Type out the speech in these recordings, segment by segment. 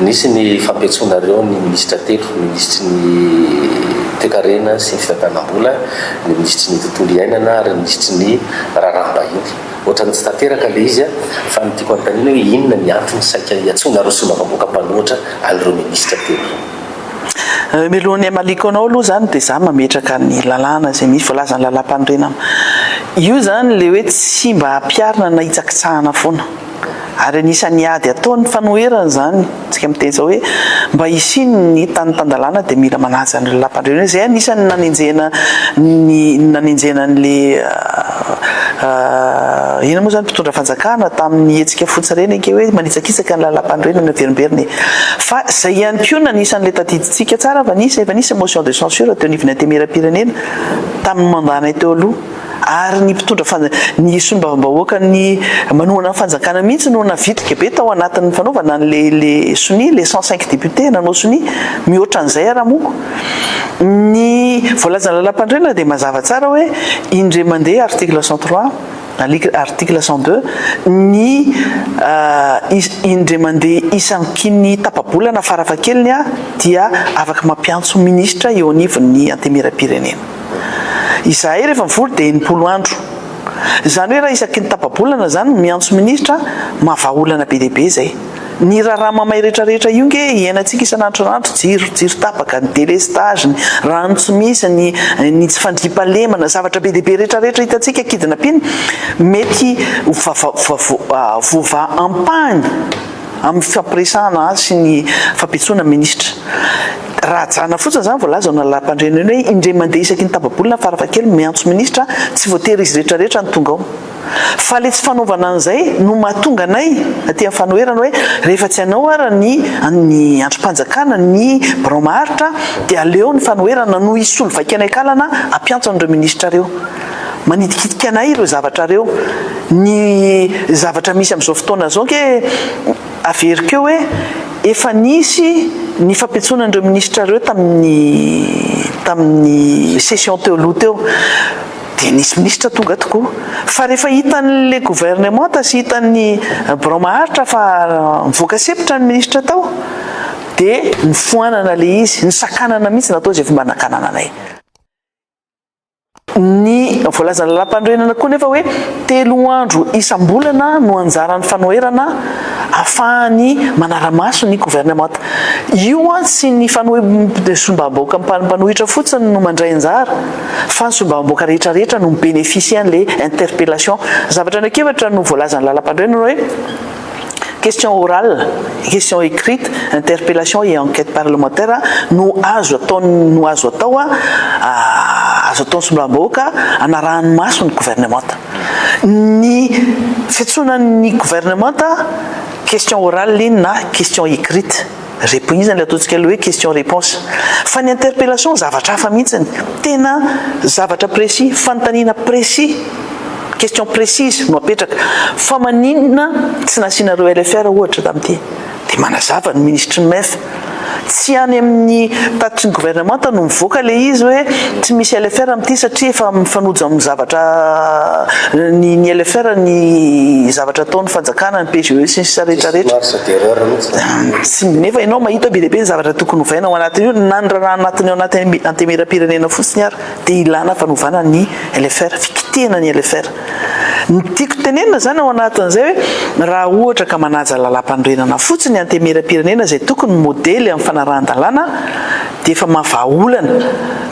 Nisy ny fampiantsoanareo ny minisitra telo, minisitry ny Toekarena sy ny Fitantanam-bola, ny minisitry ny Tontolo iainana ary ny minisitry ny Raharaham-bahiny. Ohatran'ny tsy tanteraka ilay izy fa ny tiako anontaniana hoe inona ny antony saika iantsoanareo solombavambahoaka mpanohitra an'ireo minisitra telo ireo? Mialohan'ny hamaliko anao aloha izany dia izaho mametraka ny lalàna izay misy, voalazan'ny Lalàmpanorenana. Io izany ilay hoe tsy mba hampiharina na hitsakitsahana foana. Ary anisan'ny ady ataon'ny fanoherana izany, isika miteny izao hoe mba hisian'ny tany tan-dalàna dia mila manaja ny lalampandriana. Izay anisan'ny nanenjehana ny nanenjehana an'ilay inona moa izany mpitondra fanjakana tamin'ny hetsika fotsy reny ange hoe manitsakitsaka ny lalampandriana ny miverimberina e. Fa izay ihany koa no anisan'ilay tadidintsika tsara, efa nisy, efa nisy motion de censure teo anivon'ny Antemierampirenena tamin'ny mandat-nay teo aloha. Ary ny mpitondra fanj, ny solombavambahoaka ny manohana ny fanjakana mihitsy no navitrika be tao anatin'ny fanaovana an'le le sonia, le cent cinq députés nanao sonia. Mihoatra an'izay ara moko. Ny voalazan'ny lalampanorenana dia mazava tsara hoe indre mandeha article cent trois, alikl article cent deux, ny is, indre mandeha isaky ny tapa-bolana farafahakeliny dia afaka mampiantso minisitra eo anivon'ny antemieram-pirenena. izahay rehefa mivory dia enimpolo andro. Izany hoe raha isaky ny tapa-bolana izany no miantso minisitra an, maha vahaolana be dia be izay. Ny raharaha mamay rehetra rehetra io nge iainantsika isan'andro isan'andro, jiro, jiro tapaka, ny delestage, ny rano tsy misy, ny ny tsy fandriampahalemana, zavatra be dia be rehetra rehetra hitantsika kidina pina mety ho vava, vava, voavaha ampahany. amin'ny fifampiresahana azy sy ny fampitsoana minisitra. Raha ajanona fotsiny izany voalaza ao amin'ny lalàmpandreny iny hoe indray mandeha isaky ny tapa-bolana farafahakeliny miantso minisitra, tsy voatery izy rehetra rehetra no tonga ao. Fa ilay tsy fanaovana an'izay no mahatonga anay aty amin'ny fanoherana hoe rehefa tsy hanao ara ny ny andrim-panjakana ny birao maharitra dia aleo ny fanoherana no hisolo vaika anay kalana hampiantso an'ireo minisitra ireo. Manitikitika anay ireo zavatra ireo. Ny zavatra misy amin'izao fotoana izao ange averiko eo hoe efa nisy ny fampitsoana an'ireo minisitra ireo tamin'ny tamin'ny session teo aloha teo dia nisy minisitra tonga tokoa. Fa rehefa hitan'ilay governemanta sy hitan'ny birao maharitra fa nivoaka sepotra ny minisitra tao dia nifoanana ilay izy, nisakanana mihitsy natao izay fomba nakanana anay. Ny voalazan'ny Lalampanorenana koa anefa hoe telo andro isam-bolana no anjaran'ny fanoherana afahany manara-maso ny governemanta. Io tsy ny fanohe sombam-bahoaka mpanohitra fotsiny no mandray anjara fa ny sombam-bahoaka rehetrarehetra no mi-beneficier an'ilay interpellation. Zavatra anakefatra no voalazan'ny Lalampanorenana hoe. Question orale, question écrite, interpellation et enquête parlementaire no azo atao no azo atao azo ataon'ny solombavambahoaka hanarahany maso ny gouvernemanta. Ny fiantsoana ny gouvernemanta question orale iny na question écrite. Repo iza ilay ataontsika ilay hoe question reponse. Fa ny interpellation zavatra hafa mihitsiny. Tena zavatra précis, fanontaniana précis, question précise no apetraka. Fa maninona tsy nasianareo LFR ohatra tamin'ity? Dia manazava ny minisitry ny MEF. Tsy any amin'ny tatitry ny governemanta no mivoaka ilay izy hoe tsy misy LFR amin'ity satria efa mifanojo amin'ny zavatra ny ny LFR ny zavatra ataon'ny fanjakana, ny PGE sy ny sisa rehetrarehetra. Tsy nefa ianao mahita be dia be ny zavatra tokony hovaina ao anatin'io na ny raharaha anatin'ny ao anaty antemieram-pirenena fotsiny ary dia ilana fanovana ny LFR, fikitihana ny LFR. Ny tiako tenenina izany ao anatin'izay hoe raha ohatra ka manaja lalàmpanorenana fotsiny antemieram-pirenena izay tokony modely amin'ny fanarahan-dalàna dia efa maha vahaolana.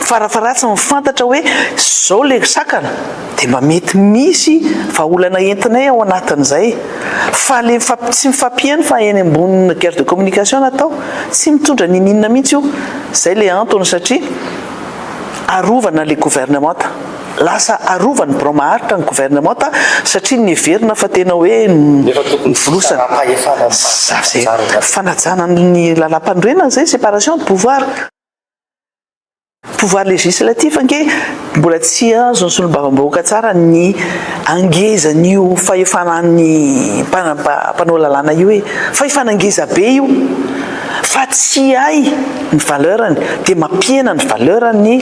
Farafaharatsiny fantatra hoe izao ilay sakana. Dia mba mety misy vahaolana entinay ao anatin'izay. Fa ilay mifampy, tsy mifampiheno fa eny ambony guerre de communication no atao. Tsy mitondra ninininona mihitsy io. Izay ilay antony satria arovana ilay governemanta. Lasa arovan'ny birao maharitra ny governemanta satria niheverina fa tena hoe novolosana. Fanajana ny lalàmpanorenana izay, séparation de pouvoir. Pouvoir législatif ange mbola tsy azon'ny solombavambahoaka tsara ny angezan'io fahefanan'ny mpanao lalàna io e! Fahefana ngeza be io fa tsy hay ny valeur-ny dia mampihena ny valeur-ny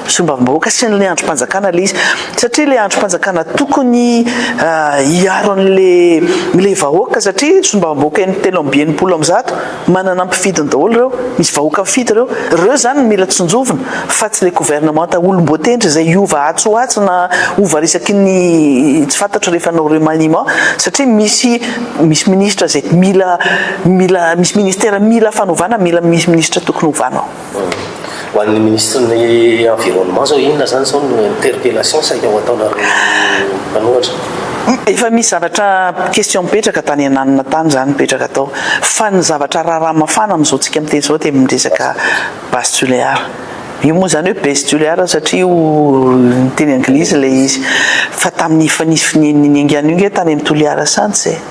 solombavambahoaka sy ny andrim-panjakana ilay izy satria ilay andrim-panjakana tokony hiaro an'ilay ilay vahoaka satria solombavambahoaka in-telo amby enimpolo amby zato Manana mpifidiny daholo ireo, misy vahoaka mifidy ireo. Ireo izany no mila tsinjovina fa tsy ilay governemanta olom-boatendry izay hiova atsy ho atsy na hova isaky ny tsy fantatro rehefa hanao remaniement satria misy misy minisitra izay mila mila misy ministera mila fanovana mila misy minisitra tokony hovana ao. Ho an'ny Minisitrin'ny Environnement zao inona zany zao no interpellation saika ho ataonareo mpanohatra? Efa misy zavatra question mipetraka tany ananona tany zany mipetraka atao fa ny zavatra raharaha mafana amin'izao tsika miteny zao dia amin'ny resaka base tulear. Io moa zany hoe base tulear satria ho teny anglisy ilay izy fa tamin'ny efa nisy finian'ny niaingàna io nge tany amin'ny Toliara Sahantsy e!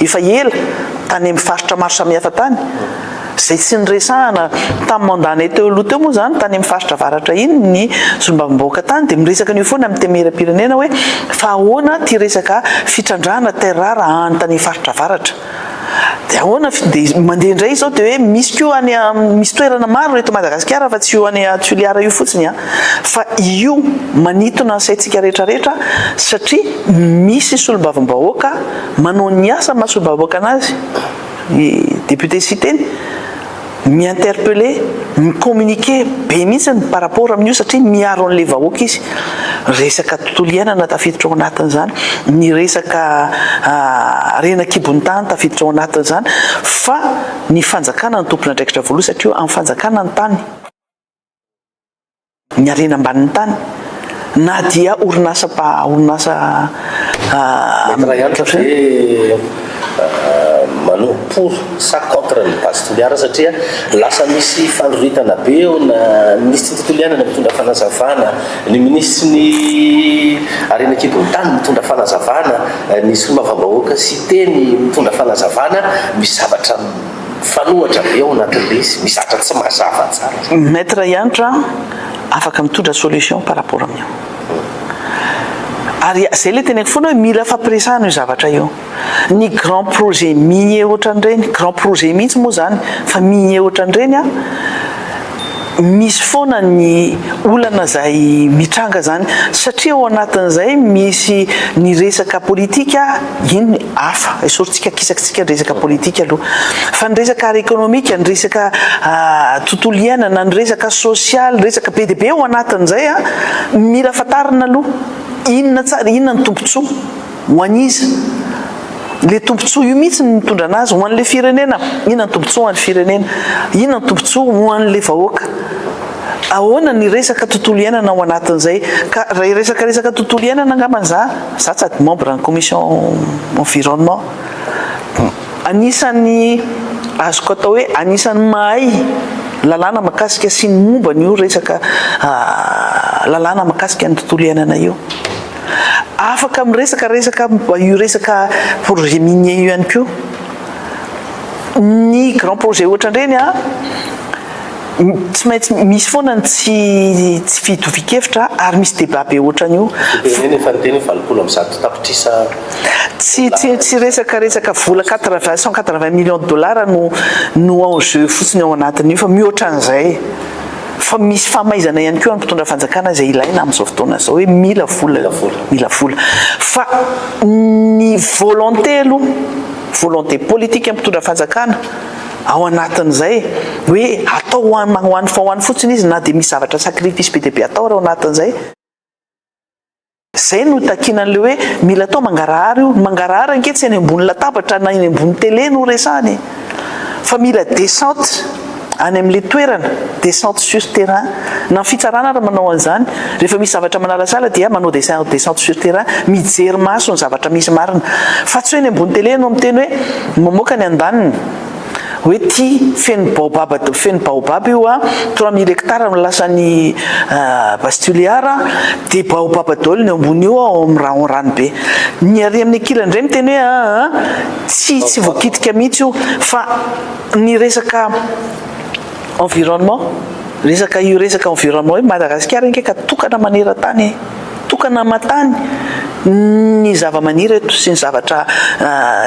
efa ela tany amin'ny faritra maro samihafa tany, izay tsy niresahana tamin'ny mandat-nay teo aloha teo moa izany tany amin'ny faritra avaratra iny ny solombavambahoaka tany dia miresaka an'io foana amin'ny temeraipirenena hoe fa ahoana ity resaka fitrandrahana terres rares any tany faritra avaratra dia ahoana dia mandeha indray izao dia hoe misy koa any misy toerana maro eto Madagasikara fa tsy io any Toliara io fotsiny an fa io manitona ny saintsika rehetra rehetra satria misy solombavambahoaka Manao ny asa mahasoa-bahoaka anazy ny député Siteny, mi-interpeller, mi-communiquer be mihitsiny par rapport amin'io satria miaro an'ilay vahoaka izy. Resaka tontolo iainana tafiditra ao anatin'izany, ny resaka harena an-kibon'ny tany tafiditra ao anatin'izany fa ny fanjakana no tompon'andraikitra voaloha satria eo amin'ny fanjakana ny tany. ny harena ambanin'ny tany na dia orinasa mpa orinasa Maître Rayan manao pour sa contre ny base Toliara satria lasa misy fandroritana be eo na ny minisitry ny tontolo iainana mitondra fanazavana, ny minisitry ny harena an-kibon'ny tany mitondra fanazavana, ny solombavambahoaka Siteny mitondra fanazavana ny zavatra Mifanohitra be ao anatin'ilay izy, misy zavatra tsy mazava tsara. Maître Hanitra afaka mitondra solution par rapport amin'io. Ary izay ilay teneniko foana hoe mila fampiresahana io zavatra io. Ny grand projet minier ohatran'ireny, grand projet mihitsy moa izany fa minier ohatran'ireny an, misy foana ny olana izay mitranga izany satria ao anatin'izay misy ny resaka politika, iny hafa, esorintsika kisakitsika ny resaka politika aloha, fa ny resaka ara ekonomika, ny resaka tontolo iainana, ny resaka sosialy, resaka be dia be ao anatin'izay an, mila fantarina aloha inona tsara, inona ny tombontsoa. Ho an'iza? Ilay tombontsoa io mihitsy no mitondra anazy. Ho an'ilay firenena. Inona ny tombontsoa ho an'ny firenena? Inona ny tombontsoa ho an'ilay vahoaka? Ahoana ny resaka tontolo iainana ao anatin'izay? Ka raha hiresaka resaka tontolo iainana angambany za, za tsy ady membre ny commission environnement. Anisan'ny azoko atao hoe anisan'ny mahay lalàna makasika sy ny momba an'io resaka lalàna makasika ny tontolo iainana io. Afaka miresaka resaka momba io resaka projet minier io ihany koa ny grand projet ohatran'ireny an, tsy maintsy misy foana ny tsy tsy fitovian-kevitra ary misy débat be ohatran'io. Dia tenenina efa niteny hoe valopolo amby zato tapitrisa Tsy tsy tsy resaka resaka vola quatre vingt cent quatre vingt millions de dollars no no enjeu fotsiny ao anatin'io fa mihoatra an'izay e. Fa misy famaizana ihany koa any mpitondra fanjakana izay ilaina amin'izao fotoana izao hoe mila vola mila vola. Fa ny volonté aloha, volonté politique ny mpitondra fanjakana ao anatin'izay hoe atao ho an'ny ho an'ny fotsiny izy na dia misy zavatra sacrifice be dia be atao ary ao anatin'izay, Izay no itakiana an'ilay hoe mila atao mangarahara io. Ny mangarahara ange tsy eny ambony latabatra na eny ambony tele no resahana e! Fa mila descente any amin'ilay toerana, descente sur terrain. Na ny fitsarana ary manao an'izany. Rehefa misy zavatra manalasala dia manao descen, descente sur terrain, mijery maso ny zavatra misy marina. Fa tsy hoe eny ambony tele no miteny hoe mamoaka ny andaniny. Hoe ty feno baobab feno baobab io a, trois mille hectares no lasan'i Base Tuléar a, dia baobab daholo ny eo ambony io ao amin'ny rahon ranobe. Ny ary amin'ny ankilany indray miteny hoe aa tsy tsy voakitika mihitsy io fa ny resaka environnement, resaka io resaka environnement hoe Madagasikara ange ka tokana maneran-tany e! tokana aman-tany ny zavamaniry eto sy ny zavatra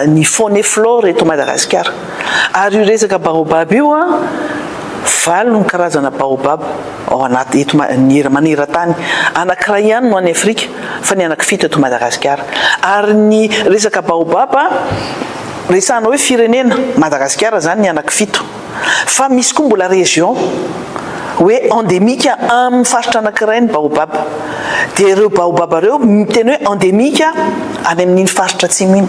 ny faune et flore eto Madagasikara. Ary io resaka baobab io an, valo ny karazana baobab ao anaty eto maneran-tany. Anankiray ihany no any Afrika fa ny anankifito eto Madagasikara. Ary ny resaka baobab resahana hoe firenena, Madagasikara izany ny anankifito. fa misy koa mbola région hoe endémique aminy faritra anakiray ny baobab dia ireo baobab ireo miteny hoe endémique any amin'iny faritra atsimo iny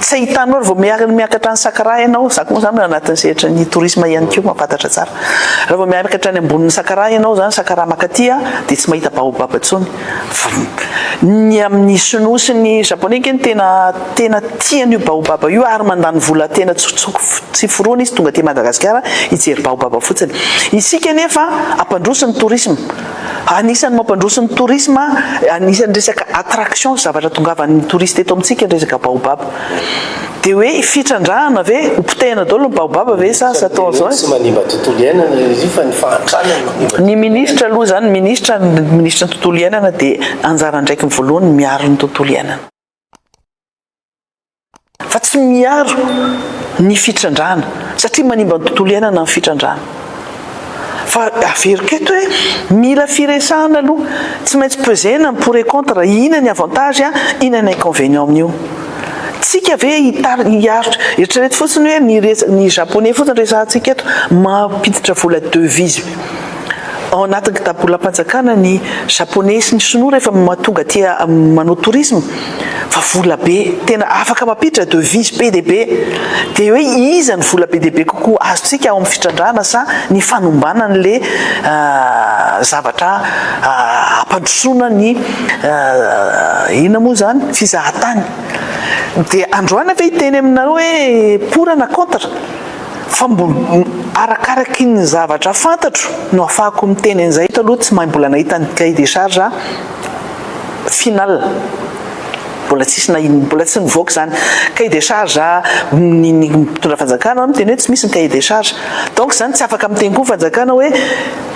tsy ahitanao raha vao miaraka ny miakatra ny sakara ianao za koa moa zany anatin'ny sehatra ny tourisme ihany koa mampatatra tsara raha vao miakatra ny ambonin'ny sakara ianao zany sakara makaty dia tsy mahita baobab intsony Ny amin'ny Sinoa sy ny Japoney ange no tena tena tia an'io baobaba io ary mandany vola tena tsy foroana izy tonga aty Madagasikara hijery baobaba fotsiny. Isika anefa hampandroso ny tourisme, anisan'ny mampandroso ny tourisme, anisan'ny resaka attraction zavatra tongavan'ny touriste eto amintsika ny resaka baobaba. Dia hoe fitrandrahana ve? Ho potehina daholo ny baobab ve sa asa atao an'izao e? Tsy manimba tontolo iainana ilay izy io fa ny fahantrana no manimba. Ny ministra aloha izany, ny ministra, ny ministry ny tontolo iainana dia anjara andraikiny voalohany ny miaro ny tontolo iainana. Fa tsy miaro ny fitrandrahana satria manimba ny tontolo iainana ny fitrandrahana. Fa averiko eto hoe mila firesahana aloha. Tsy maintsy pesena ny pour et contre, ina ny avantage an, ina ny inconvenient amin'io. Tsika ve hitarika, eritrereto fotsiny hoe ny resaka, ny japonais fotsiny resahantsika eto, mampiditra vola devise ao anatin'ny kitapo bolam-panjakana ny japonais sy ny sinoa rehefa mahatonga aty manao tourisme. fa vola be tena afaka mampiditra devise be dia be dia hoe iza ny vola be dia be kokoa azontsika ao amin'ny fitrandrahana sa ny fanombanan'le zavatra hampandrosoana ny inona moa izany fizahan-tany dia androany ve hiteny aminareo hoe pour na contre fa mbola arakaraky ny zavatra fantatro no afahako miteny an'izay eto aloha tsy mahay mbola nahita ny cahier des charges final mbola tsisy na inona mbola tsy nivoaka izany cahier de charge ny mitondra fanjakana no miteny hoe tsy misy ny cahier de charge donc izany tsy afaka miteny koa ny fanjakana hoe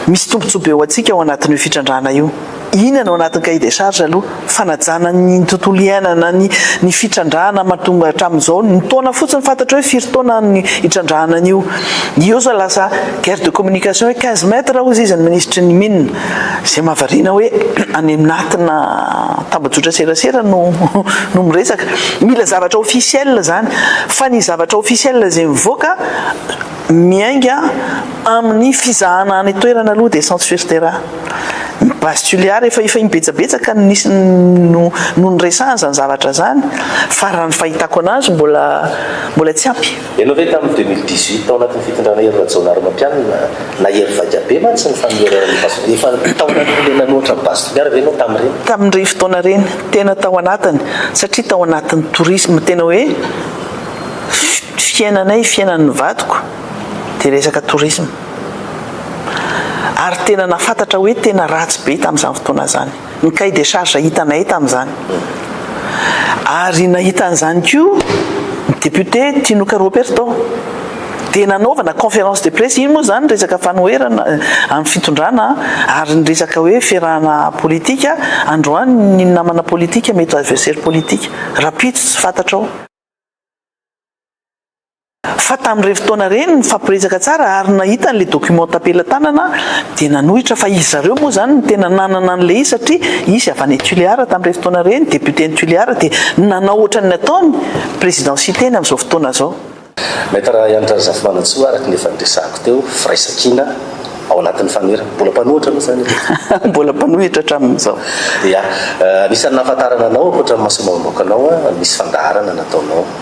misy tombotsoa be ho antsika ao anatin'io fitrandrahana io iny no anatin'ny cahier de charge aloha fanajana ny tontolo iainana ny ny fitrandrahana mahatonga hatramin'izao ny taona fotsiny fantatra hoe firy taona ny hitrandrahana an'io io izao lasa guerre de communication hoe quinze mètres hozy izy ny ministry ny mines Izay mahavariana hoe any anatina tambajotra serasera no no miresaka. Mila zavatra officiel izany. Fa ny zavatra officiel izay mivoaka miainga amin'ny fizahana any an-toerana aloha dia centre sur terrain. Ny base Tuléar efa efa imbetsabetsaka no nisy no no niresahana izany zavatra izany fa raha ny fahitako an'azy mbola mbola tsy ampy. Ianao ve tamin'ny deux mille dix huit tao anatin'ny fitondrana Hery Rajaonarimampianina na Hery Vaika be mantsy ny fanonerana ny Base Efa nitaona ny olona nanohatra ny Base Toliara ve ianao tamin'ireny? Tamin'ireny fotoana ireny, tena tao anatiny satria tao anatin'ny tourisme tena hoe fiainanay, fiainan'ny vadiko dia resaka tourisme ary tena nahafantatra hoe tena ratsy be tamin'izany fotoana izany. ny cahier des charges hitanay tamin'izany. Ary nahita an'izany koa ny député Tinoka Roberto. Dia nanaovana conférence de presse, iny moa izany resaka fanoherana amin'ny fitondrana ary ny resaka hoe fiarahana politika, androany ny namana politika mety ho adversaire politika, rahampitso tsy fantatrao. fa tamin'ireny fotoana ireny nifampiresaka tsara ary nahita an'ilay document tampelatanana aho dia nanohitra fa izy zareo moa izany no tena nanana an'ilay izy satria izy avy any Tuléar tamin'ireny fotoana ireny, député any Tuléar dia nanao ohatran'ny nataony président Siteny amin'izao fotoana izao. Maître Rahayanitra Razafimanantsoa, araka ny efa niresahako teo, firaisankina ao anatin'ny Fanera. Mbola mpanohitra aloha izany aloha e. Mbola mpanohitra hatramin'izao. Ia. Anisan'ny nahafantarana anao ankoatra ny masoimaim-bahoakanao, misy fandaharana nataonao.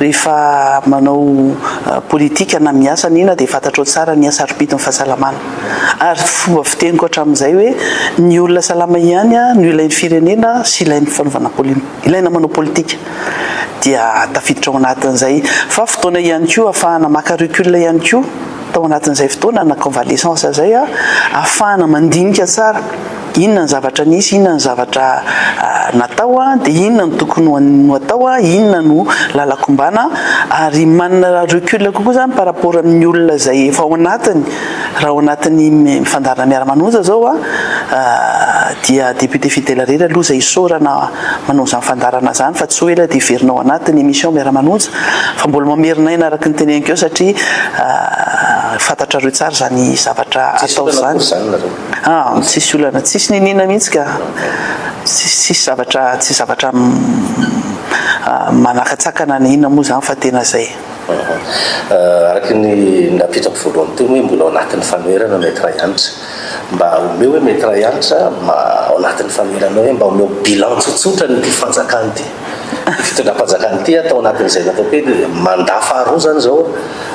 Rehefa manao politika na miasa na inona dia fantatrao tsara ny sarobidy ny fahasalamana. Ary fomba fiteniko hatramin'izay hoe ny olona salama ihany no ilain'ny firenena sy ilain'ny fanaovana ilaina manao politika. Dia tafiditra ao anatin'izay. Fa fotoana ihany koa ahafahana maka recul ihany koa tao anatin'izay fotoana na convalescence izay ahafahana mandinika tsara. Inona ny zavatra nisy, inona ny zavatra natao, dia inona no tokony ho atao, inona no lalan-kombana ary manana recul kokoa izany par rapport amin'ny olona izay efa ao anatiny, raha ao anatin'ny fandaharana Miara-manonja izao dia député fidèle irery aloha izay isaorana manao izany fandaharana izany fa tsy hoe ela dia hiverina ao anatin'ny émission Miara-manonja fa mbola mamerina aina araka ny teneniko eo satria fantatrareo tsara izany zavatra atao izany. Ah tsisy olana tsisy niniana mihitsy ka! Tsisy zavatra tsisy zavatra manakatsakana na inona moa zany fa tena zay. Aha. Araka ny napetrako voalohany teo hoe mbola ao anatin'ny fanoherana Maître Hanitra. Mba omeo hoe Maître Hanitra ao anatin'ny fanoherana hoe mba omeo bilan tsotsotra ny ity fanjakana ity. Fitondram-panjakana ity tao anatin'izay natao teo dia mandat faharoa izany izao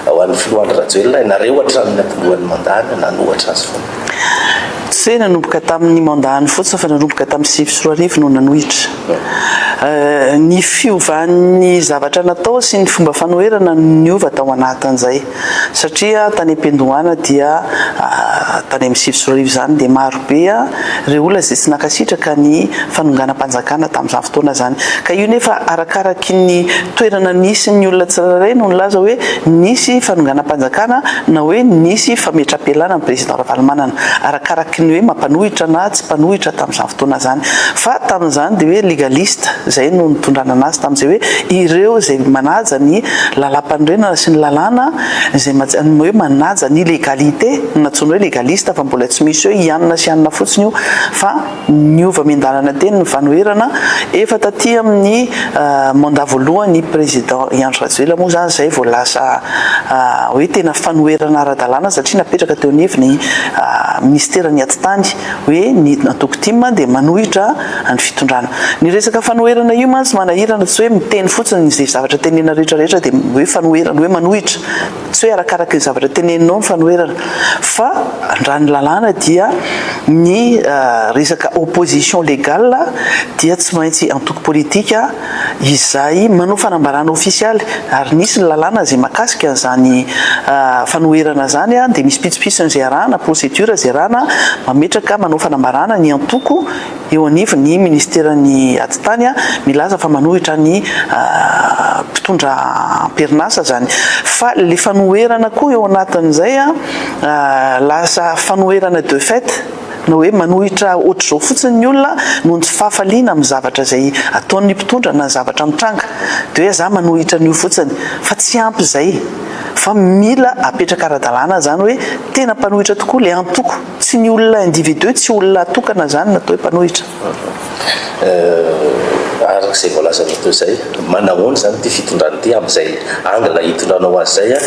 ho an'ny filoha Andry Rajoelina ianareo hatramin'ny nampilohan'ny mandat-ny nanohatra azy foana. Tsy nanomboka tamin'ny mandat-ny fotsiny fa nanomboka tamin'ny sivy sy roa arivo no nanohitra. Ny fiovan'ny zavatra natao sy ny fomba fanoherana no niova tao anatin'izay. Satria tany am-piandohana dia tany amin'ny sivy sy roa arivo izany dia maro be ireo olona izay tsy nankasitraka ny fanonganam-panjakana tamin'izany fotoana izany. Ka io nefa arakaraky ny toerana nisy ny olona tsirairay no nilaza hoe nisy fanonganam-panjakana na hoe nisy fametram-pialana ny Président Ravalomanana. Arakaraky ny hoe mampanohitra na tsy mpanohitra tamin'izany fotoana izany. fotoana izany. Fa tamin'izany dia hoe legaliste, izay no nitondrana anazy tamin'izay hoe ireo izay manaja ny lalam-panorenana sy ny lalàna, izay hoe manaja ny legalité no nantsoiny hoe legaliste fa mbola tsy misy hoe hianina sy hianina fotsiny io fa niova miandalana teny ny fanoherana efa taty amin'ny mandat voalohan'ny président Andry Rajoelina moa izany izay vao lasa hoe tena fanoherana ara-dalàna satria napetraka teo anivon'ny minisiteran'ny atitany hoe ny antoko tim dia manohitra ny fitondrana. Ny resaka fanoherana io mantsy manahirana, tsy hoe miteny fotsiny izay zavatra tenenina rehetra rehetra dia hoe fanoherana, hoe manohitra, tsy hoe arakaraka ny zavatra teneninao ny fanoherana fa raha ny lalàna dia ny resaka opposition légale dia tsy maintsy antoko politika izay manao fanambarana ofisialy ary nisy ny lalàna izay mahakasika an'izany fanoherana izany dia misy pitsopitsony izay arahana, procédures izay arahana, mametraka, manao fanambarana ny antoko eo anivon'ny minisiteran'ny atitany milaza fa manohitra ny mpitondra amperinasa izany fa ilay fanoherana koa eo anatin'izay lasa fanoherana de fait. Na hoe manohitra ohatr'izao fotsiny ny olona noho ny tsy fahafaliana amin'ny zavatra izay ataon'ny mpitondra na ny zavatra mitranga, dia hoe za manohitra an'io fotsiny, fa tsy ampy izay, fa mila apetraka ara-dalàna izany hoe tena mpanohitra tokoa ilay antoko, tsy ny olona individu, tsy olona tokana izany no atao hoe mpanohitra. Araka izay voalazanao teo izay, manahoana izany ity fitondrana ity amin'izay angle hitondranao azy izay an?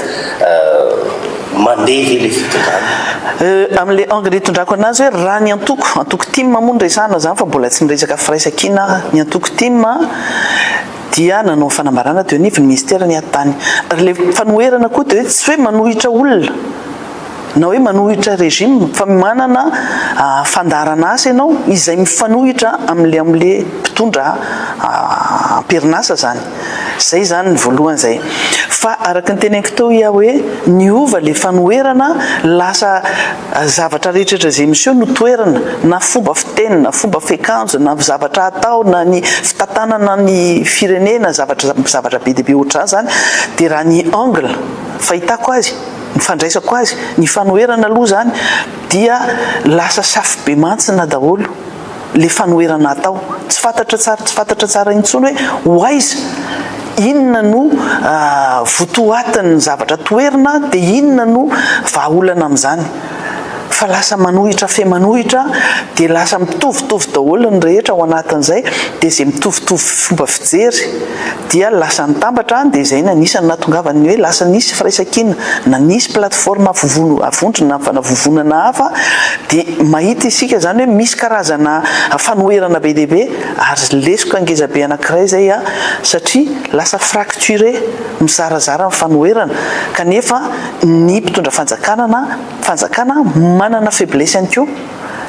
Mandeha ve ilay fitondrana? Amin'ilay angle hitondrako anazy hoe raha ny antoko, antoko tim moa no resahana izany fa mbola tsy niresaka firaisankina aho, ny antoko tim dia nanao ny fanambarana teo anivon'ny minisitera ny aty tany. Ary ilay fanoherana koa dia hoe tsy hoe manohitra olona. na hoe manohitra régime fa manana fandaharan'asa ianao izay mifanohitra amin'ilay amin'ilay mpitondra am-perinasa izany. Izay izany ny voalohany izay. Fa araka ny teneniko teo i aho hoe niova ilay fanoherana, lasa zavatra rehetra izay miseho no toherina, na fomba fiteny, na fomba fiakanjo, na zavatra atao, na ny fitantanana ny firenena, zavatra zavatra be dia be ohatr'izany izany, dia raha ny angle fahitako azy, Ny fandraisako azy, ny fanoherana aloha zany dia lasa safobemantsina daholo le fanoherana atao, tsy fantatra tsara tsy fantatra tsara intsony hoe ho aiza, inona no votoatin'ny zavatra toherina dia inona no vahaolana amin'izany. fa lasa manohitra fe manohitra dia lasa mitovitovy daholo ny rehetra ao anatin'izay dia izay mitovitovy fomba fijery dia lasa nitambatra dia izay no anisany nahatongavan'ny hoe lasa nisy firaisankina na nisy plateforme avovon avondrona na fanavovonana hafa dia mahita isika izany hoe misy karazana fanoherana be dia be ary lesoka ngezabe anankiray izay a satria lasa fracture mizarazara ny fanoherana kanefa ny mpitondra fanjakana na fanjakana manana faiblesse ihany koa,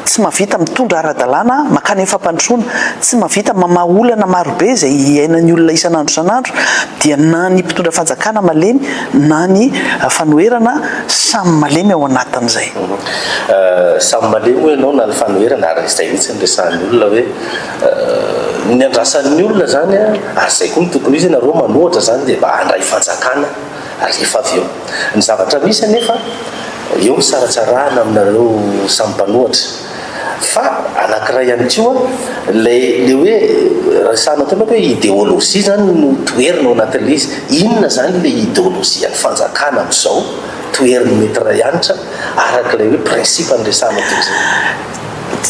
tsy mahavita mitondra ara-dalàna makany amin'ny fampandrosoana, tsy mahavita mamaha olana marobe izay iainan'ny olona isan'andro isan'andro dia na ny mpitondra fanjakana malemy na ny fanoherana samy malemy ao anatin'izay. Samy malemy hoy ianao na ny fanoherana ary izay mihitsy no resahan'ny olona hoe ny andrasan'ny olona izany ary izay koa no tokony ho izy, ianareo manohatra izany dia mba handray fanjakana. Alefa avy eo. Ny zavatra misy anefa, eo ny saratsarahana aminareo samy mpanohatra. Fa anankiray ihany koa, ilay ilay hoe resahana teo manko hoe ideolojia izany no toherina ao anatin'ilay izy. Inona izany ilay ideolojian'ny fanjakana amin'izao? Toherin'i Maître Raianitra araka ilay hoe principe niresahana teo izay.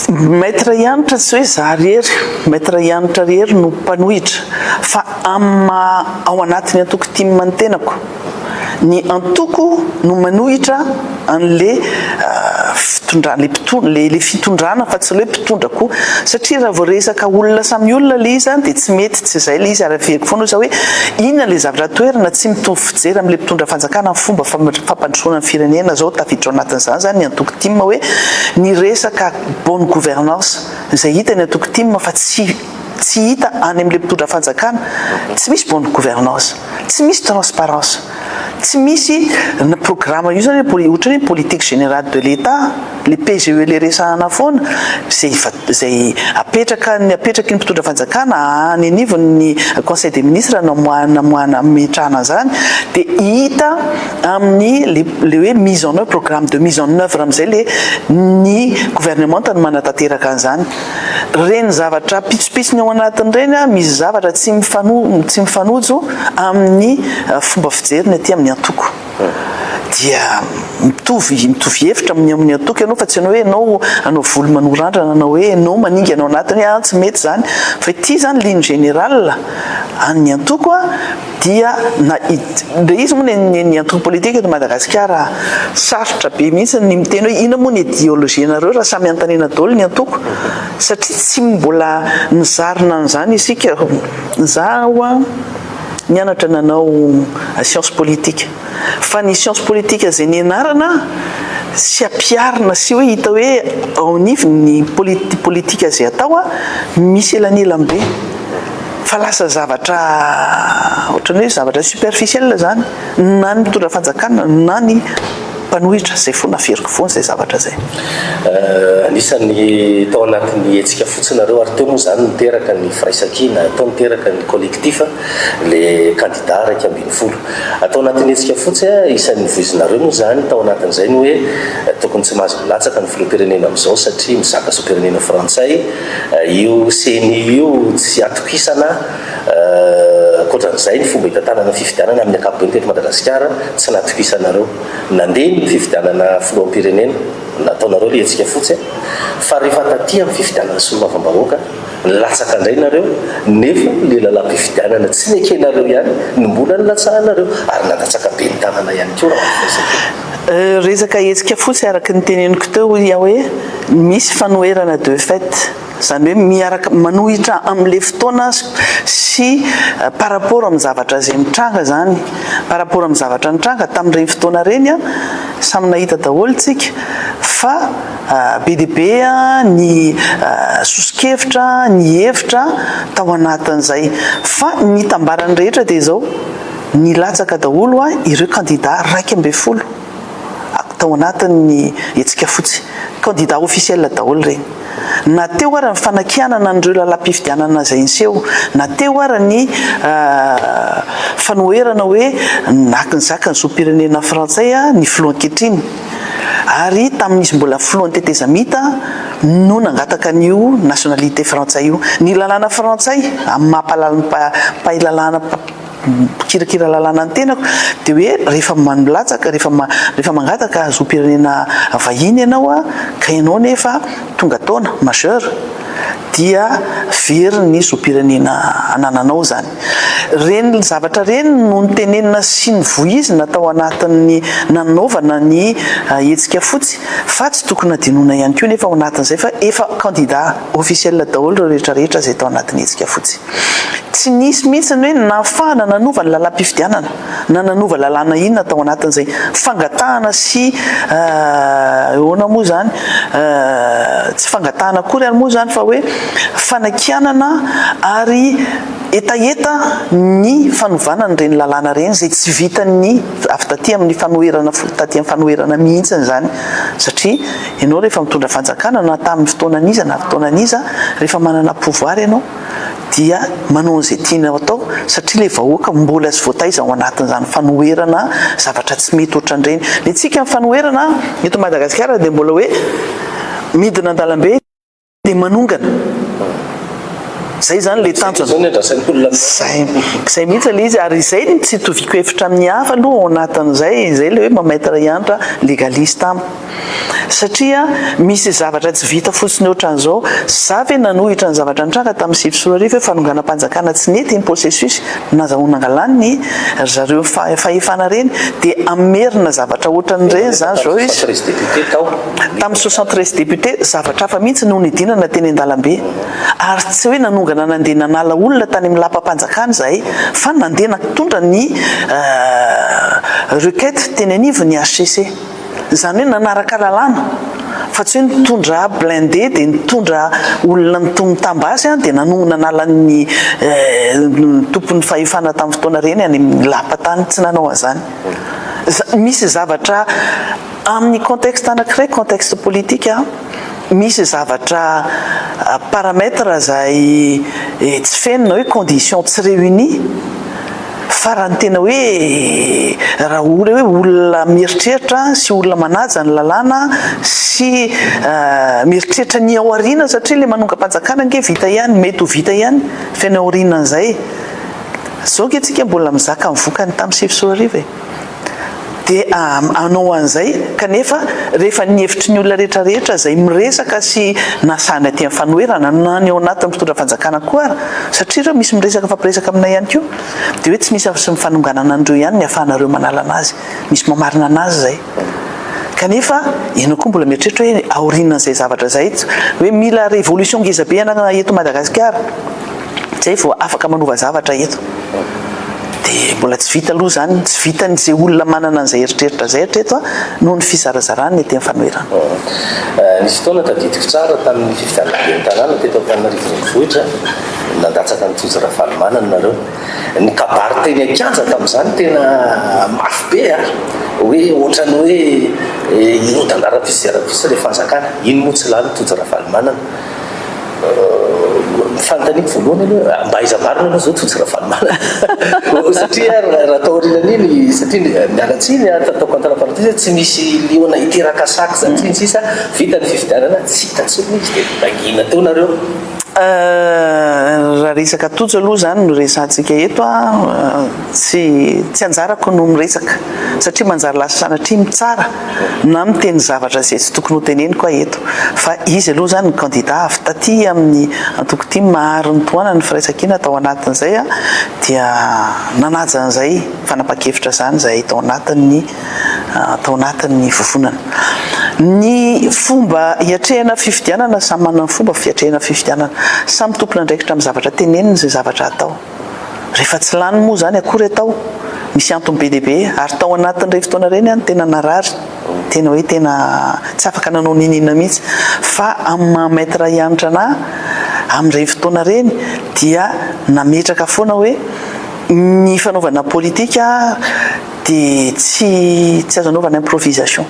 Maître Hanitra tsy hoe za ry hery, Maître Hanitra ry hery no mpanohitra fa amin'ny maha ao anatin'ny antoko tim ny tenako. Ny antoko no manohitra an'le fitondràna, le mpitondra, le le fitondrana fa tsy le hoe mpitondra koa satria raha vao resaka olona samy olona le izy dia tsy mety, tsy izay le izy ary averiko foana osa hoe inona le zavatra toerana tsy mitovy fijery amin'le mpitondra fanjakana amin'ny fomba fampandrosoana ny firenena zao tafiditra ao anatin'izany zany ny antoko Tim hoe ny resaka bonne gouvernance izay hita eny antoko tim fa tsy tsy hita any amin'ilay mpitondra fanjakana tsy misy bonne gouvernance tsy misy transparence tsy misy na programa io zany hoe poli ohatran'ny hoe politique générale de l'etat le PGE le resahana foana zay fa zay apetraka ny apetraky ny mpitondra fanjakana any anivon'ny conseil des ministres namoahana namoahana hametrahana an'zany de hita amin'ny le le hoe mise en oeuvre programme de mise en oeuvre amin'izay le ny gouvernemanta no manatanteraka an'izany reny zavatra pitsopitsony ao anatin'ireny a misy zavatra tsy mifano tsy mifanojo amin'ny fomba fijeriny aty amin'ny antoko dia mitovy mitovy hevitra amin'ny amin'ny antoko ianao fa tsy ianao hoe ianao anao voly manorandrana anao hoe ianao maningana ao anatiny a tsy mety izany fa ity izany ligne générale an'ny antoko a dia na ilay izy moa ny ny antoko politika eto Madagasikara sarotra be mihitsy ny miteny hoe inona moa ny ideologie nareo raha samy antanina daholo ny antoko satria tsy mbola nizarina an'izany isika, izaho nianatra nanao science politique. fa ny science politique izay nianarana sy ampiharina sy hoe hita hoe ao anivon' ny politika izay atao misy elanelan be fa lasa zavatra ohatrany hoe zavatra superficiel izany na ny mitondra fanjakana na ny mpanohitra izay fona feriko fona izay zavatra izay. Anisan'ny tao anatin'ny hetsika fotsinareo ary teo moa izany niteraka ny firaisankina, tao niteraka ny collectif le kandida iraika ambin'ny folo. Atao anatin'ny hetsika fotsy a, isan'ny novoizinareo moa izany tao anatin'izay ny hoe tokony tsy mahazo milatsaka ny filoham-pirenena amin'izao satria mizaka zom-pirenena frantsay io ceni io, tsy atokisana ankoatran'izay ny fomba hitantanana ny fifidianana amin'ny ankapobeny teto Madagasikara tsy natokisanareo nandeha ny fifidianana filoham-pirenena, nataonareo ilay hetsika fotsy a, fa rehefa taty amin'ny fifidianana solombavambahoaka. Latsaka indray nareo, nefa ilay lalam-pifidianana tsy nekenareo ihany no mbola nilatsahanareo ary nandatsaka be ny tanana ihany koa raha ny fahitako. Resaka hetsika fotsy araka ny teneniko teo hoy aho hoe misy fanoherana de fait, izany hoe miaraka manohitra amin'ilay fotoana sy par rapport amin'ny zavatra izay mitranga izany. Par rapport amin'ny zavatra nitranga tamin'ireny fotoana ireny, samy nahita daholo isika fa. Be dia be ny soso-kevitra, ny hevitra tao anatin'izay. Fa ny itambaran'ny rehetra dia izao, nilatsaka daholo ireo kandida iraika ambin'ny folo tao anatin'ny hetsika fotsy. Kandida officiel daholo ireny. Na teo ary ny fanakianana an'ireo lalam-pifidianana izay niseho, na teo ary ny fanoherana hoe naka nizaka ny zom-pirenena frantsay ny filoha ankehitriny. Ary tamin'izy mbola filohan'ny tetezamita no nangataka an'io nationalité frantsay io. Ny lalàna frantsay, amin'ny maha mpahalalin'ny mpahay lalàna, mpikirakira lalàna ny tenako, dia hoe rehefa milatsaka, rehefa rehefa mangataka hazom-pirenena vahiny ianao, ka ianao nefa tonga taona, majeur, dia very ny zom-pirenena anananao izany. Reny zavatra reny no nitenenina sy nivoizina tao anatin'ny nanaovana ny hetsika fotsy fa tsy tokony hadinoina ihany koa nefa ao anatin'izay fa efa kandida officiel daholo ireo rehetra rehetra izay tao anatin'ny hetsika fotsy. Tsy nisy mihitsy ny hoe nahafahana nanova ny lalam-pifidianana. Na nanova lalàna inona tao anatin'izay fangatahana sy ahoana moa izany, tsy fangatahana akory ary moa izany fa hoe fanakianana ary hetaheta ny fanovana an'ireny lalàna ireny izay tsy vitan'ny avy taty amin'ny fanoherana taty amin'ny fanoherana mihitsy izany satria ianao rehefa mitondra fanjakana na tamin'ny fotoana an'iza na fotoana an'iza rehefa manana pouvoir ianao dia manao an'izay tiany hatao satria ilay vahoaka mbola tsy voataiza ao anatin'izany fanoherana zavatra tsy mety ohatran'ireny. Ny antsika amin'ny fanoherana eto Madagasikara dia mbola hoe midina an-dalambe dia manongana. Izay izany ilay tanjona. Izay, izay mihitsy ilay izy ary izay no tsy itoviko hevitra amin'ny hafa aloha ao anatin'izay, izay ilay hoe mamaitre hiantra, légaliste am. satria misy zavatra tsy vita fotsiny ohatran'izao, za ve nanohitra ny zavatra nitranga tamin'ny sivy sy roa arivo hoe fanonganam-panjakana tsy nety iny processus nazahoana angalany ry zareo fahefana ireny dia hamerina zavatra ohatran'ireny za zao izy tamin'ny soixante treize députés zavatra hafa mihitsy no nidinana teny an-dalambe ary tsy hoe nanongana nandeha nanala olona tany amin'ny lapam-panjakana izahay fa nandeha nitondra ny requête teny anivon'ny HCC. Izany hoe nanaraka lalàna fa tsy hoe nitondra blindé dia nitondra olona mitam-ba azy dia nanohy nanala ny tompon'ny fahefana tamin'ny fotoana ireny any amin'ny lapa tany. Tsy nanao an'izany. Misy zavatra amin'ny contexte anankiray, contexte politique, misy zavatra paramètres izay tsy feno na hoe conditions tsy réunies, Fa raha ny tena hoe raha hoe olona mieritreritra sy olona manaja ny lalàna sy mieritreritra ny ao aoriana satria ilay manongam-panjakana ange vita ihany, mety ho vita ihany fa ny ao aorianan'izay. Izao ange tsika mbola mizaka ny vokany tamin'ny sivy sy roa arivo e! Dia hanao an'izay, kanefa rehefa ny hevitry ny olona rehetra rehetra izay miresaka sy na sahy na tia ny fanoherana, na ny ao anatin'ny mpitondra fanjakana koa ara, satria ireo misy miresaka mifampiresaka aminay ihany koa, dia hoe tsy misy afa-tsy ny fanonganana an'ireo ihany ny ahafahanareo manala an'azy, misy mamarina an'azy izay. Kanefa ianao koa mbola mieritreritra hoe aorianan'izay zavatra izay, hoe mila révolution ngezabe hanagana eto Madagasikara, Zay vao afaka manova zavatra eto. Dia mbola tsy vita aloha izany, tsy vitan'izay olona manana an'izay eritreritra izay hatreto an, noho ny fizarazarany ny ety amin'ny fanoherana. Nisy fotoana tadidiko tsara tamin'ny fifidianana ben'ny tanàna teto Antananarivo Renivohitra, nandatsaka an'i Tojo Ravalomanana nareo. Ny kabary teny an-kianja tamin'izany tena mafy be an, hoe ohatran'ny hoe hirodana rahampitso dia rahampitso ilay fanjakana. Iny moa tsy lany Tojo Ravalomanana. fanontaniako voalohany aloha ah, mba aiza marina aloha zao Tojo Ravalomanana satria ah, raha tao aorianan'iny satria eh, miala tsiny ah, tataoko antanam-paritisa tsy misy liona hiteraka sac zany tsiny sisa vita ny fifidianana tsy hita tsony izy dia nangina teo nareo euh, raha resaka tojo aloha zany no resantsika eto a euh, tsy tsy anjarako no miresaka satria manjary lasa sanatria mitsara na miteny zavatra izay tsy tokony hoteneniko aho eto fa izy aloha izany ny kandida avy taty amin'ny antoko tim ary nitohanany ny firaisankina tao anatin'izay aho dia nanaja an'izay fanapan-kevitra izany izahay tao anatin'ny tao anatin'ny vovonana ny fomba hiatrehana fifidianana samy manana ny fomba fiatrehana fifidianana samy tompon'andraikitra amin'ny zavatra tenenina izay zavatra atao Rehefa tsy lany moa izany akory atao, misy antony be dia be ary tao anatin'ireny fotoana ireny aho no tena narary, tena hoe tena tsy afaka nanao n'inon'inona mihitsy fa amin'ny maha maître hianatra anà amin'ireny fotoana ireny dia nametraka foana hoe ny fanaovana politique dia tsy azo anaovana improvisation.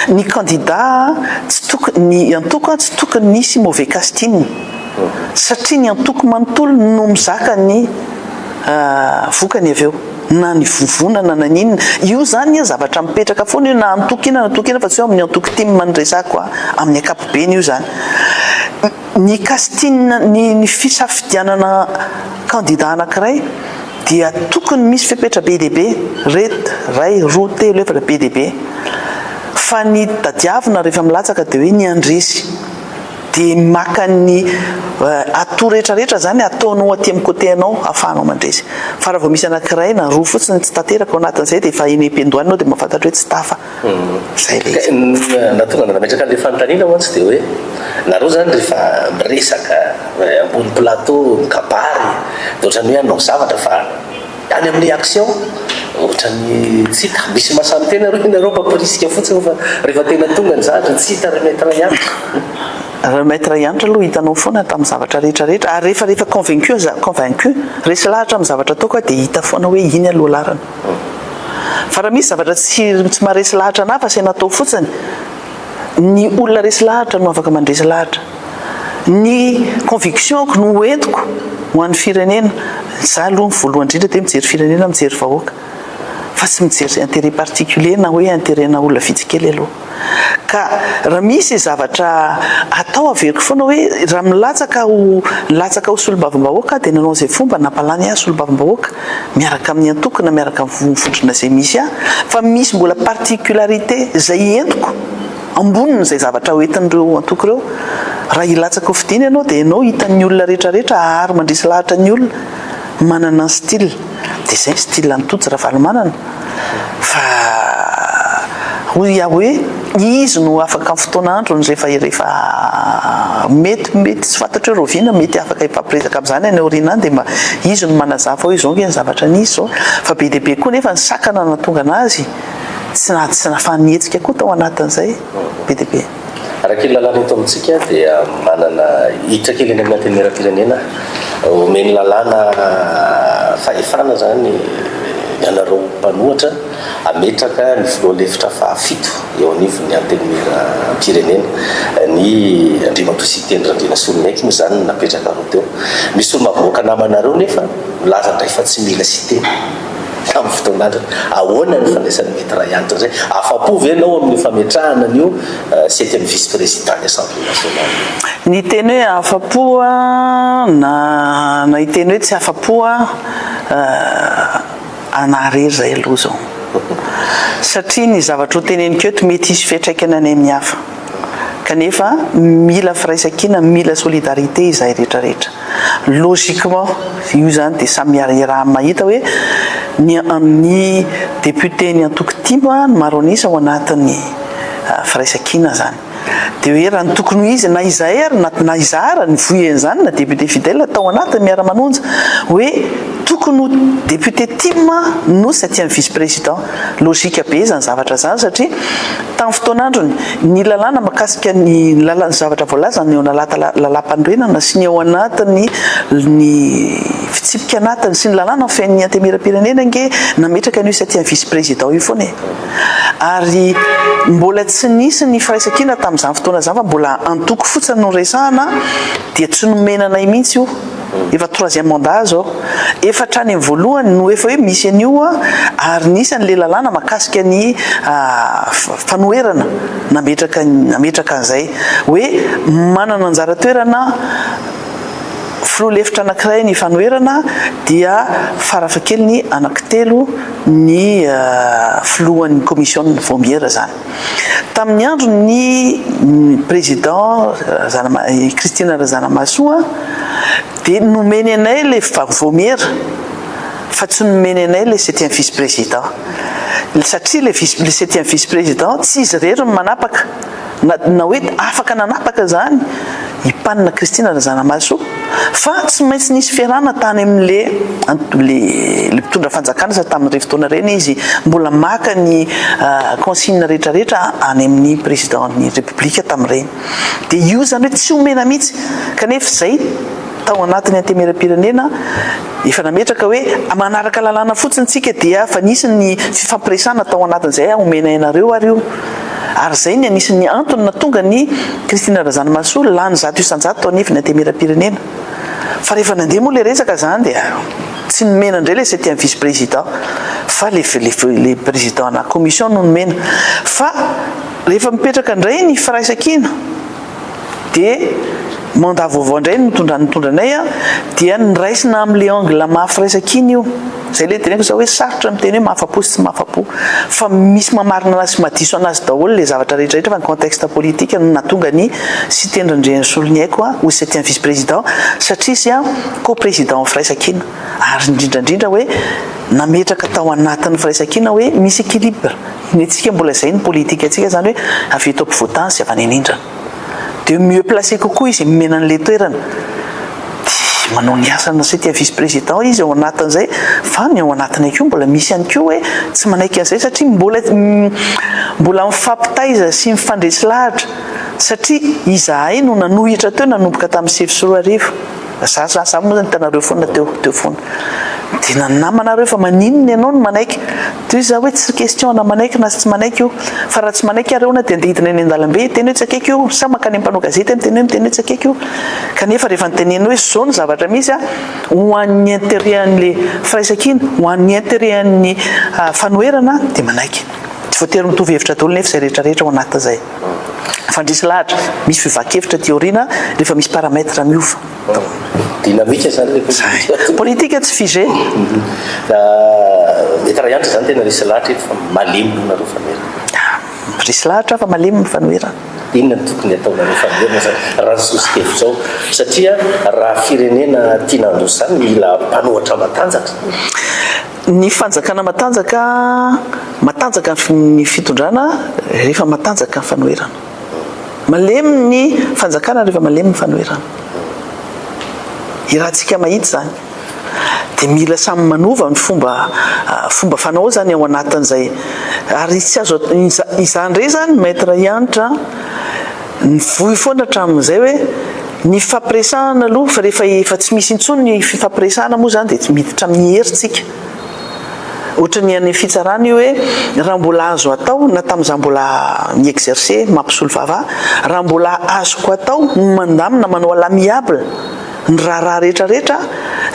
ny kandida tsy tokony, ny antoko tsy tokony hisy mauvais casting satria ny antoko manontolo no mizaka ny vokany avy eo na ny vovonana na ny inona, io zany an zavatra mipetraka foana io na antoko inona na antoko inona fa tsy hoe amin'ny antoko tim no resako an, amin'ny ankapobeny io zany. Ny casting ny fisafidianana kandida anakiray, dia tokony misy fepetra be dia be, ret, ray, roa, telo, efatra, be dia be, fa ny tadiavina rehefa milatsaka dia hoe ny handresy, dia maka ny atout rehetra rehetra izany ataonao aty amin'ny côté anao ahafahanao mandresy, fa raha vao misy anankiray na roa fotsiny tsy tanteraka ao anatin'izay dia efa eny am-piandohana ianao dia mahafantatra hoe tsy tafa. Nahatonga anao nametraka an'ilay fanontaniana mantsy dia hoe nareo izany rehefa miresaka ambony plateau mikabary dia ohatran'ny hoe hanao zavatra fa any amin'ny action ohatran'ny tsy hita, misy masan tena aloha ianareo mampirisika fotsiny fa rehefa tena tonga ny zavatra dia tsy hita ry Maître Yantra. Ry Maître Yantra aloha hitanao foana ato amin'ny zavatra rehetra rehetra ary rehefa rehefa convaincu aza convaincu resy lahatra amin'ny zavatra ataoko aho dia hita foana hoe iny aloha lalana. Fa raha misy zavatra tsy tsy maharesy lahatra an'hafa asaina atao fotsiny, ny olona resy lahatra no afaka mandresy lahatra. Ny conviction-ko no ho entiko ho an'ny firenena, za aloha voalohany indrindra dia mijery firenena mijery vahoaka fa tsy mijery intérêt particulier na hoe intérêt-na olona vitsy kely aloha. ka raha misy zavatra atao averiko foana hoe raha milatsaka ho latsaka ho solombavambahoaka aho dia nanao izay fomba nampalany ahy solombavambahoaka miaraka amin'ny antoko na miaraka amin'ny vondrona izay misy ahy fa misy mbola particularité izay entiko amboniny izay zavatra ho entin'ireo antoko ireo raha hilatsaka ho fidina ianao dia ianao hitan'ny olona rehetra rehetra ahary mandresy lahatra ny olona manana ny style Dia izay ny style an'i Tojo Ravalomanana fa hoy aho hoe izy no afaka amin'ny fotoana androny rehefa rehefa mety mety tsy fantatro hoe rahoviana mety afaka hifampiresaka amin'izany any aoriana any dia mba izy no manazava hoe izao ange ny zavatra nisy izao fa be dia be koa nefa ny sakana no nahatonga an'azy tsy tsy nahafahan'ny hetsika koa tao anatin'izay be dia be. Araka ny lalàna eto amintsika dia manana hiditra kely any amin'ny antenimieram-pirenena, omen'ny lalàna fahefana izany ianareo mpanohatra hametraka ny filoha lefitra fahafito eo anivon'ny antenimieram-pirenena. Ny Andriamatoa Siteny Randrianasoloniaiko moa izany no napetraka anao teo. Misy olona mivoaka namanareo nefa milaza indray fa tsy mila Siteny. tamin'ny fotoana antitra. Ahoana ny fandraisan'ny Maitre Ray antitra izay? Afa-po ve ianao amin'ny fametrahana an'io septième vice-prési dans ny Assemblée nationale? Ny hiteny hoe afa-po na na hiteny hoe tsy afa-po aho, anà irery izay aloha izao. Satria ny zavatra hoteneniko eto mety hisy fiantraikany any amin'ny hafa. Kanefa mila firaisankina, mila solidarité izahay rehetra rehetra. Logiquement, io izany dia samy iaraha mahita hoe ny ny député ny antoko tim no maro an'isa ao anatin'ny firaisankina izany. Dia hoe raha ny tokony ho izy na izahay ary na na izaho ary ny voy an'izany na député fidèle tao anatin'ny Miara-manonja hoe tokony ho député tim no septième vice-président. Lojika be izany zavatra izany satria tamin'ny fotoan'androny, ny lalàna mahakasika ny lalan'ny zavatra voalaza ny eo analaty lalàmpanorenana sy ny ao anatin'ny ny fitsipika anatiny sy ny lalàna mifehy ny antemieram-pirenena ange nametraka an'io septième vice-président io foana e. Ary mbola tsy nisy ny firaisankina tamin'izany fotoana izany fa mbola antoko fotsiny no resahana dia tsy nomena anay mihitsy io. Efa troisième mandat zao. Efa hatrany amin'ny voalohany no efa hoe misy an'io ary nisy an'ilay lalàna mahakasika ny fanoherana nametraka nametraka an'izay hoe manana anjara toerana filoha lefitra anankiray ny fanoherana dia farafahakeliny anankitelo ny filohan'ny commission ny vaomiera izany. Tamin'ny andron'ny Président Christine Razanamahasoa dia nomeny anay ilay vaomiera fa tsy nomeny anay ilay septième vice-président satria ilay septième vice-président tsy izy irery no manapaka na hoe afaka nanapaka izany i Pan na Kristina Razanamahasoa fa tsy maintsy nisy fiarahana tany amin'le le le mpitondra fanjakana sady tamin'ireny fotoana ireny izy mbola maka ny consigne rehetrarehetra any amin'ny président ny république tamin'ireny dia io izany hoe tsy omena mihitsy kanefa izay tao anatin'ny antemieram-pirenena Efa nametraka hoe manaraka lalàna fotsiny tsika dia fa nisy ny fifampiresahana tao anatin'izay ah omena ianareo ary io ary izay ny anisan'ny antony natonga an'i Christine Razanamahasoa lany zato isan-jato tao anivon'ny antemieram-pirenena fa rehefa nandeha moa ilay resaka izany dia tsy nomena indray ilay septième vice président fa ilay président-na commission no nomena fa rehefa mipetraka indray ny firaisankina de mandat vaovao indray nitondra nitondra anay a dia niraisina amle angle maha firesaka iny io zay le teneniko za hoe sarotra miteny hoe mahafapo sy tsy mahafapo fa misy mamarina anazy sy madiso anazy daholo le zavatra rehetra rehetra fa ny contexte politique no nahatonga ny siteny randriasoloniaiko a ho septième vice président satria izy a co président firaisakina ary indrindra indrindra hoe nametraka tao anatin'ny firaisakina hoe misy équilibre Ny antsika mbola izay ny politique antsika izany hoe avy eto ampovoan-tany sy avy any anindrana. Dia mieux placé kokoa izy miomena an'ilay toerana dia manao ny asany satria vice président izy ao anatin'izay fa ny ao anatiny akeo mbola misy ihany koa hoe tsy manaiky an'izay satria mbola mbola mifampitaiza sy mifandresy lahatra satria izahay no nanohitra teo nanomboka tamin'ny sivy sy roa arivo. Za za za moa zany hitanareo foana teo teo foana de na namanareo fa maninona ianao no manaiky de za hoe tsy question na manaiky na tsy manaiky io fa raha tsy manaiky ary ahoana de andeha hidina eny an-dalambe hiteny hoe tsy akaiky io sa mankany amin'ny mpanao gazety miteny hoe miteny hoe tsy akaiky io kanefa rehefa nitenenina hoe zao ny zavatra misy a ho an'ny intérêt an'le firaisankina ho an'ny intérêt an'ny ah, fanoherana dia manaiky tsy voatery mitovy hevitra daholo nefa izay rehetra rehetra ao anatin'izay Fandresy lahatra, misy fivahakevitra aty aoriana rehefa misy paramètre miova daholo. Dynamique zany le politique. Zay. Politique tsy figé. Mety ray andry zany tena resy lahatra eto fa malemy aloha nareo fa noera. Resy lahatra fa malemy fa noera. Inona no tokony ataonareo fa noera zany raha ny soso-kevitro ao satria raha firenena tiana handroso zany mila mpanohatra matanjaka. Ny fanjakana matanjaka, matanjaka ny fitondrana rehefa matanjaka ny fanoherana. Malemy ny fanjakana rehefa malemy ny fanoherana. Iarahantsika mahita izany. Dia mila samy manova ny fomba fomba fanao izany ao anatin'izay. Ary tsy azo, izany indray izany Maître Hanitra an. Nivoy foana hatramin'izay hoe ny fifampiresahana aloha fa rehefa efa tsy misy intsony ny fifampiresahana moa izany dia miditra amin'ny hery tsika. Ohatry ny any fitsarana io hoe raha mbola azo atao na tamin'izaho mbola mi-exercer mampisolo vava aho, raha mbola azoko atao ny mandamina manao à l'amiable, ny raharaha rehetra rehetra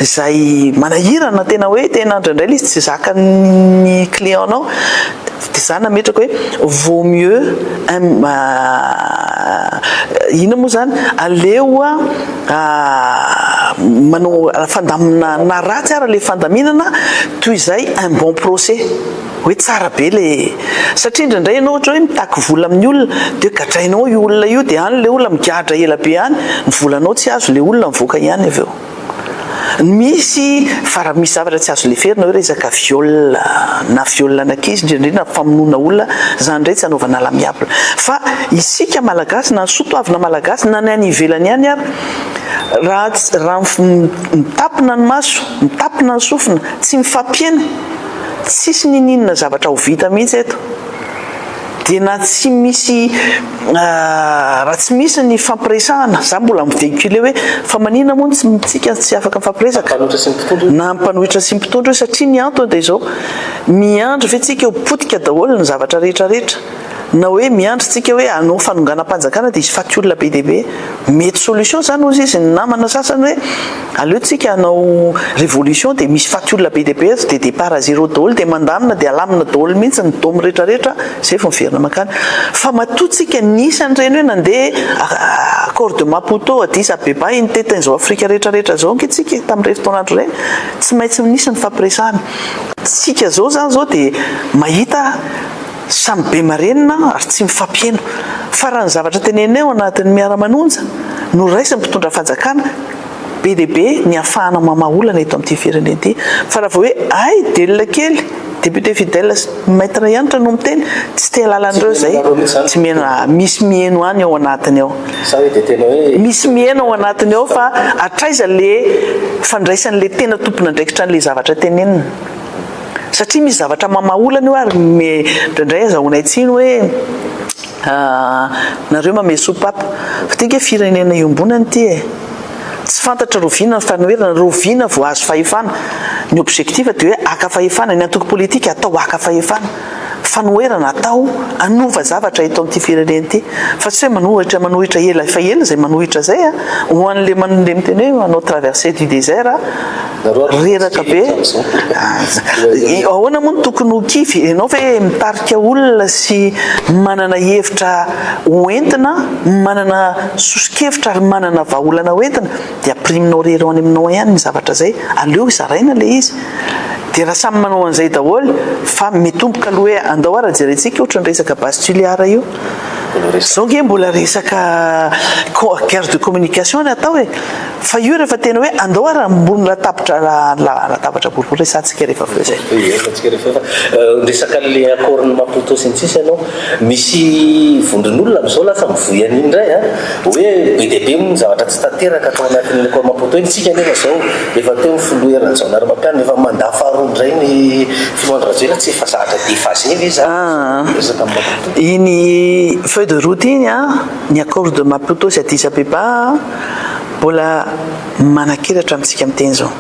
izay manahirana tena hoe tena indraindray ilay izy tsy zakan'ny client nao dia za nametraka hoe vaut mieux inona moa izany aleo manao fandaminana ratsy ary ilay fandaminana toy izay un bon procès Hoe tsara be le satria indraindray ianao ohatra hoe mitaky vola amin'ny olona dia hoe gadrainao io olona io dia any le olona migadra ela be any ny volanao tsy azo le olona mivoaka ihany avy eo ny misy fa raha misy zavatra tsy azo leferina hoe resaka viol na viol an'ankizy indrindrindrina famonoana olona izany indray tsy anaovana l'amiable fa isika malagasy na ny soa toavina malagasy na ny any ivelany ihany ary raha raha mitapina ny maso mitapina ny sofina tsy mifampihena Tsisy niniana zavatra ho vita mihitsy eto. Dia na tsy misy raha tsy misy ny fifampiresahana, za mbola mi-vehicule hoe fa manina moa ny tsika tsy afaka mifampiresaka? Na mpanohitra sy mpitondra io satria ny antony dia izao, miandry ve tsika ho potika daholo ny zavatra rehetra rehetra? Na hoe miandry tsika hoe hanao fanonganam-panjakana dia hisy faty olona be dia be? Mety solution zany hozy izy ny namana sasany hoe, Aleo tsika hanao révolution dia misy faty olona be dia be eto dia départ à zéro daholo dia mandamina dia alamina daholo mihitsy ny dômy rehetra rehetra izay vao miverina mankany fa matoa tsika nisy an'ireny hoe nandeha accord de Maputo Addis Abeba iny tetin izao Afrika rehetra rehetra izao ange tsika tamin'ireny fotoana andro ireny tsy maintsy nisy ny fampiresahana tsika izao izany izao dia mahita Samy be marenina ary tsy mifampiheno. Fa raha ny zavatra teneniny ao anatin'ny Miara-manonja no raisin'ny mpitondra fanjakana, be dia be ny hafahana mamaha olana eto amin'ity firenena ity. Fa raha vao hoe hay delila kely, député Fidèle sy Maître Hanitra no miteny, tsy te halala an'ireo izay. Tsy miheno, ah, misy miheno any ao anatiny ao. Misy miheno ao anatiny ao fa hatraiza ilay fandraisan'ilay tena tompon'andraikitra an'ilay zavatra teneniny. Satria misy zavatra mamaolana io ary indraindray azahoanay tsiny hoe nareo mamehy soupape. Fa tena hoe firenena iombonana ity e! Tsy fantatra roviana ny fanoherana, roviana vao azo fahefana. Ny objectif dia hoe haka fahefana, ny antoko politika atao haka fahefana. fanoherana atao hanova zavatra eto amin'ity firenena ity fa tsy hoe manohitra manohitra ela efa ela izay manohitra izay a ho an'le manle miteny hoe manao traversée du désert a reraka be ahoana moa no tokony ho kivy ianao ve mitarika olona sy manana hevitra hoentina manana soso-kevitra ary manana vahaolana hoentina de ampiriminao re eo any aminao ihany ny zavatra zay, aleo zaraina le izy, de raha samy manao an'izay daholo fa mitomboka aloha hoe andao ara jerentsika ohatra ny resaka base tuliara io, zao nge mbola resaka guerre de communication no atao e, fa io rehefa tena hoe andao ara ambony latabatra latabatra boribory resahantsika rehefa avy eo zay. Resaka le accord ny Maputo sy ny sisa ianao. Misy vondron'olona amin'izao lasa mivoy an'iny indray a! Hoe be dia be moa ny zavatra tsy tanteraka tao anatin'ny Lekôly Maputo iny. Isika anefa izao, efa teo ny Filoha Hery Rajaonarimampianina, efa mandat faharoa indray ny Filoha Andry Rajoelina, tsy efa zahatra déphasé ve izany ny resaka amin'i Maputo? Iny feuille de route iny a, ny Accords de Maputo sy Addis Abeba a, mbola manankelatra amintsika miteny izao.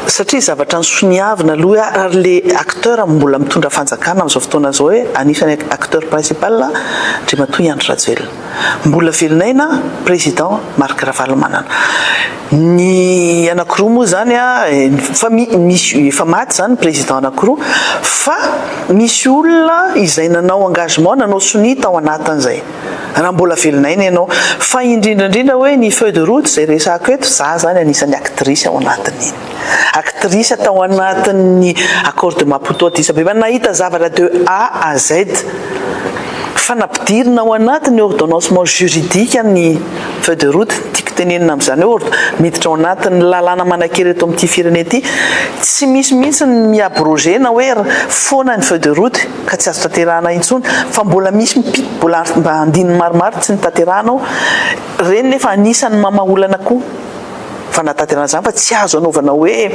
Satria zavatra nisoniavina aloha hoe ary le acteur mbola mitondra fanjakana amin'izao fotoana izao hoe anisany acteur principal Andriamatoa i Andry Rajoelina. Mbola velon'aina Président Marc Ravalomanana. Ny anakiroa moa izany efa misy efa maty izany ny Président anakiroa fa misy olona izay nanao engagement nanao sonia tao anatin'izay. raha mbola velona aina ianao. Fa indrindra indrindra hoe ny feuille de route izay resahako eto, za zany anisan'ny actrice ao anatin'iny. Actrice tao anatin'ny Accord de Maputo Addis Abeba, nahita zavatra de A à Z. Fa nampidirina ao anatin'ny ordonnancement juridique ny feuille de route, ny tiako tenenina amin'izany hoe miditra ao anatin'ny lalàna manankery eto amin'ity firenena ity. Tsy misy mihitsy ny mi-abroger-na hoe foana ny feuille de route. ka tsy azo tanterahana intsony fa mbola misy mpi mbola mba andininy maromaro tsy notanterahana ao, ireny nefa anisan'ny mama olana koa fa nahatanterahana izany fa tsy azo anaovana hoe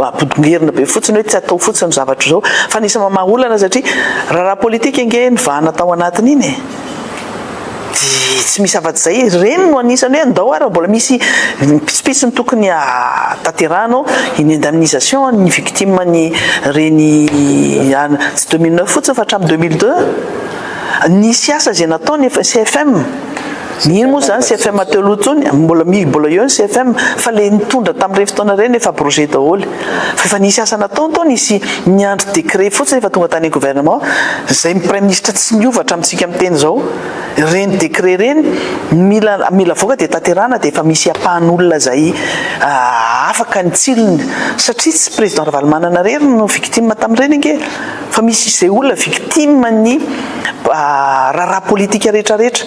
ampodingerina be fotsiny hoe tsy atao fotsiny zavatra izao fa anisan'ny mama olana satria raharaha politika ange nivahana tao anatin'iny e! dia tsy misy afa-tsy izay e, ireny no anisan'ny hoe andao ary mbola misy pitsopitsony tokony hahatanterahana ao, ny indemnisation an'ny victime an'ny ireny tsy deux mille neuf fotsiny fa hatramin'ny deux mille deux, nisy asa izay natao ny CFM, iny moa izany CFM teo aloha intsony, mbola eo ny CFM fa ilay nitondra tamin'ireny fotoana ireny efa projet daholo e. Fa efa nisy asa natao ny tao nisy niandry décret fotsiny efa tonga tany gouvernement zay ny praiminisitra tsy miova hatramintsika miteny zao reny décret ireny mila mila avoaka dia tanterahana dia efa misy ampahany olona zay afaka ny tsilony satria tsy président ravalomanana rery no victime tamin'ireny ange fa misy izay olona victime ny raharaha politika retraretra